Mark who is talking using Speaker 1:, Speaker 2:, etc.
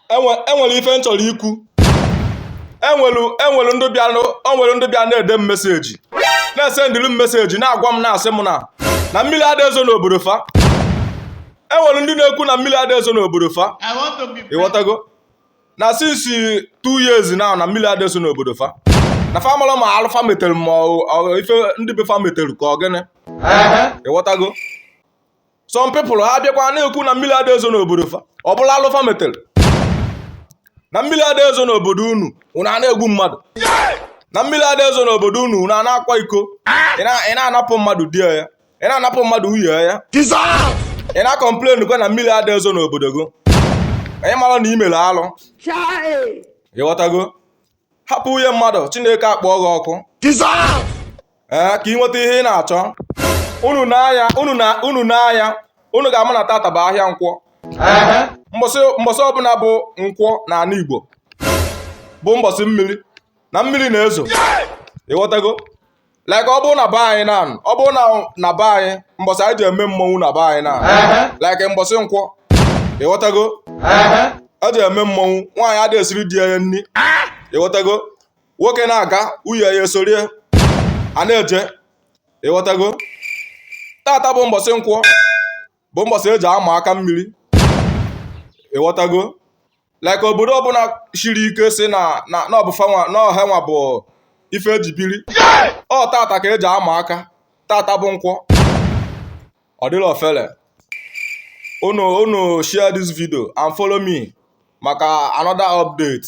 Speaker 1: enwe enwere ife m chọrọ ikwu enwere enwere ndị bịa nụ- o nwere ndị bịa na-ede m meseji na-esendịrị m meseji na-agwa m na-asị m na na mmiri ada ezo n'obodo fa enwere ndị na-ekwu na mmiri ada ezo n'obodo fa ịghọtago na since 2 years now na mmiri ada ezo n'obodo fa na fa mara ma alụ fa metere ma ọ- ọ- ife ndị be fa metere ka ọ gịnị ịghọtago some people ha bịakwa na-ekwu na mmiri ada ezo n'obodo fa ọ bụla alụ fa metere na mmiri ada ezo n'obodo unu unu a na-egbu mmadụ na mmiri ada ezo n'obodo unu unu a na-akwa iko ị na-anapụ mmadụ di ya ị na-anapụ mmadụ nwunye ya ị na-acomplain kwa na mmiri ada ezo n'obodo gị anyị mara na i mere alụ ịghọtago hapụ nwunye mmadụ chineke akpọọ gị ọkụ ee ka ị nweta ihe ị na-achọ unu n'anya unu ga-ama na tata bụ ahịa nkwọ mbọsị ọbụla bụ nkwọ n'ala igbo bụ mbọsị mmiri na mmiri na-ezo ịghọtago like ọ bụrụ na be anyị na ọ bụrụ na na be anyị mbọsị anyị ji eme mmọnwụ na be anyị na like mbọsị nkwọ ịghọtago eji eme mmọnwụ nwaanyị ada esiri di ya nni ịghọtago nwoke na-aga nwunye ya esoro ya na-eje ịghọtago tata bụ mbọsị nkwọ bụ mbọsị eji ama aka mmiri ịghọtago like obodo ọbụla shiri ike sị na na ọ hanwa bụ ife eji biri ọ tata ka eji ama aka tata bụ nkwọ ọ dịrọ ofele unu unu share this video and follow me maka another update